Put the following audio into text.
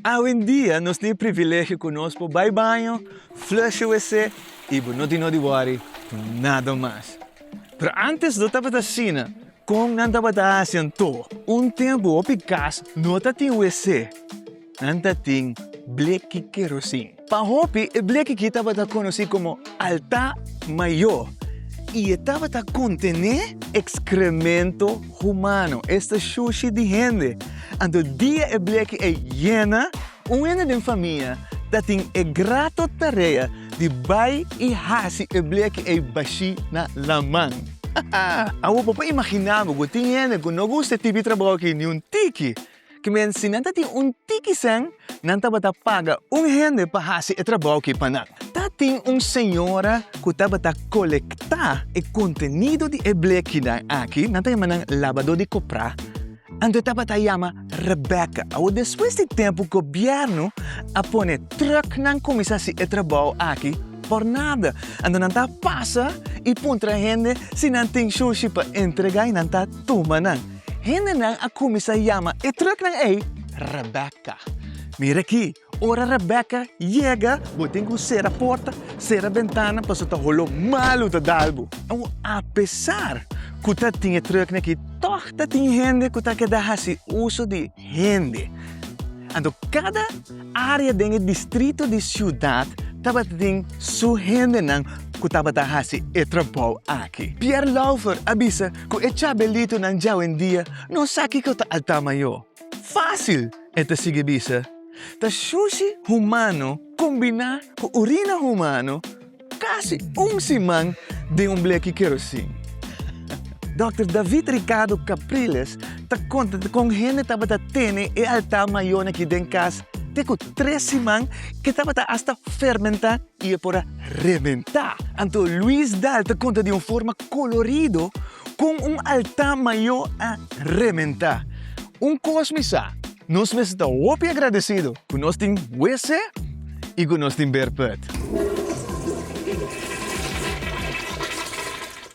Awendia nos tin e privilegio cu nos por bay baño, flush e WC y bo no tin no di worry por nada mas. Pero antes no tabata asina. Con nan tabata haci antoa? Un tempo hopi cas no ta tin WC, nan ta tin bleki kerosin. Pa hopi, e bleki ki tabata konosí komo altá mayó i e tabata kontené ekskrementu humano, esta shushi di hende. Anto dia e bleki ei yena, un hende den famia ta tin e grato tarea di bai i hasi e bleki ei bashí na laman. Awor, bo por imaginá bo ku tin hende ku no gusta e tipi trabou akí niun tiki. Ki men si nan ta tin un tiki sen, nan tabata paga un hende pa hasi e trabou ki pa nan. Ta tin un señora ku tabata kolektá e kontenido di e blekinan aki, nan ta yama nan labadó di koprá, anto e tabata yama Rebecca. Awor despues di tempu gobièrnu a pone trùk nan kuminsá hasi e trabou aki por nada. Anto nan ta pasa i puntra hende si nan tin shushi pa entregá i nan ta tuma nan. Hendenan a kuminsá yama e truknan ei Rebekka. Mira akí, ora Rebekka yega, bo tin ku sera porta, sera bentananan pasobra ta holó malu ta dal bo. Apesar ku ta tin e truknan akí, tòg ta tin hende ku ta keda hasi uso di. hende. Anto kada área den e distrito di siudat tabata tin su hendenan ku tabata hasi e trabou aki. Pierre Laufer a bisa ku e chabelitonan dja awendia no sa kiko ta altá mayó. Fásil, e ta sigui bisa, ta shushi humano kombiná ku urina humano. Casi un siman den un bleki kerosin. Dòkter David Ricardo Capriles ta konta kon hende tabata tene e alta mayó aki den kas te ku tres siman e tabata asta fermentá i e por a rebentá. Anto Luis Dahl ta konta di un forma kolorido kon un alta mayó a rebentá. Un kos mi sa. Nos mes ta hopi agradecido cu nos tin WC y cu nos tin beer put.